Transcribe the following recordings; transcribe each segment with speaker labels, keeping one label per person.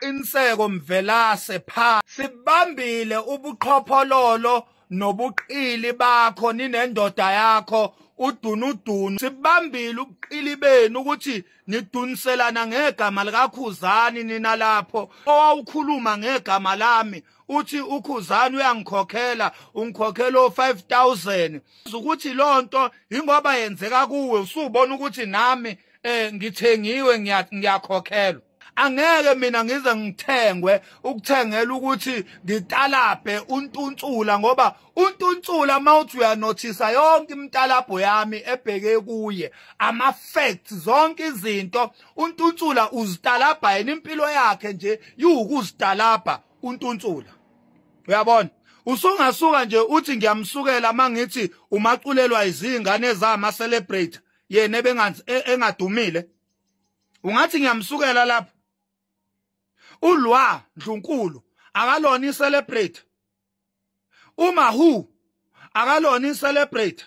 Speaker 1: Qiniseko Mvelase pha sibambile ubuqhophololo nobuqili bakho ninendoda yakho udunudunu sibambile ubuqili benu ukuthi niduniselana ngegama likakhuzani nina lapho owawukhuluma ngegama lami uthi ukhuzani uyangikhokhela ungikhokhela o5000 ukuthi lonto ingoba yenzeka kuwe usubona ukuthi nami eh ngithengiwe ngiyakhokhelwa angeke mina ngize ngithengwe ukuthengela ukuthi ngitalabhe untuntsula ngoba untuntsula mawuthi uyanothisa yonke imitalabho yami ebheke kuye ama facts zonke izinto untunsula uzitalabha yena impilo yakhe nje iwukuzitalabha untunsula uyabona usungasuka nje uthi ngiyamsukela mangithi umaculelwa izingane zama celebrate yena ebengazi e, engadumile ungathi ngiyamsukela lapho ulwa ndlunkulu akalona i celebrate uma who akalona icelebrate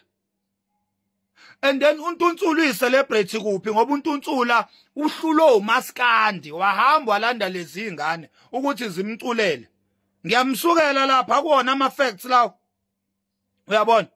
Speaker 1: and then untunsulu uyicelebrate kuphi ngoba untunsula uhlulo umaskandi wahamba walanda lezi ingane ukuthi zimculele ngiyamsukela lapha kuwona ama facts lawo uyabona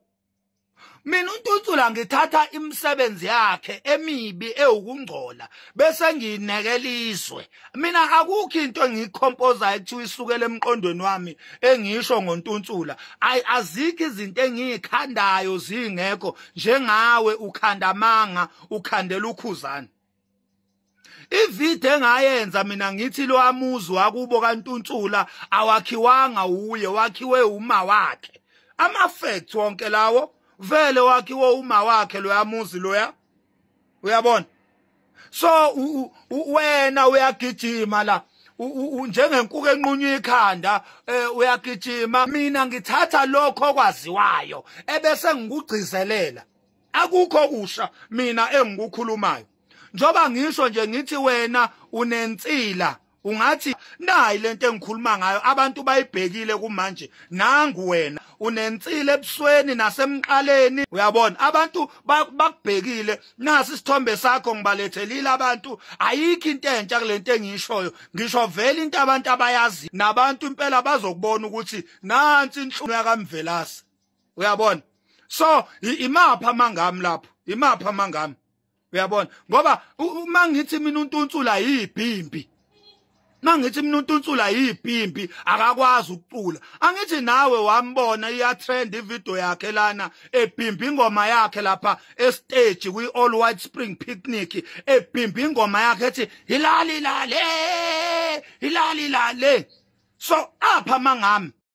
Speaker 1: mina untuntula ngithatha imisebenzi yakhe emibi ewukungcola bese ngiyinekela izwe mina akukho into engiyikhompozayo kuthiwa isukele emqondweni wami engisho ngontuntula ayi azikho izinto engiyikhandayo zingekho njengawe ukhanda amanga ukhandela ukhuzana ivideo engayenza mina ngithi lo amuzi wakubo kantuntsula awakhiwanga uye wakhiwe uma wakhe ama facts wonke lawo vele wakhiwe uma wakhe lo amuzi loya uyabona so wena uyagijima la njengenkuku enqunywa ikhanda eh, uyagijima mina ngithatha lokho okwaziwayo ebese ngikugcizelela akukho kusha mina engikukhulumayo njoba ngisho nje ngithi wena unensila ungathi nayi lento engikhuluma ngayo abantu bayibhekile kumanje nangu wena unensile ebusweni nasemqaleni uyabona abantu bakubhekile nasi isithombe sakho ngibalethelile abantu ayikho into entsha kulento engishoyo ngisho vele into abantu abayazi nabantu impela bazokubona ukuthi nansi inhlungu yakamvelase uyabona so imapha amangami lapho imapha amangami uyabona ngoba uma ngithi mina untunsula yibhimbi mangithi mina untunsula yibhimbi akakwazi ukucula angithi nawe wambona iya trend ivideo yakhe lana ebhimbi ingoma yakhe lapha estage kwi all white spring picnic ebhimbi ingoma yakhe ethi hilali lale hilali lale so apha mangami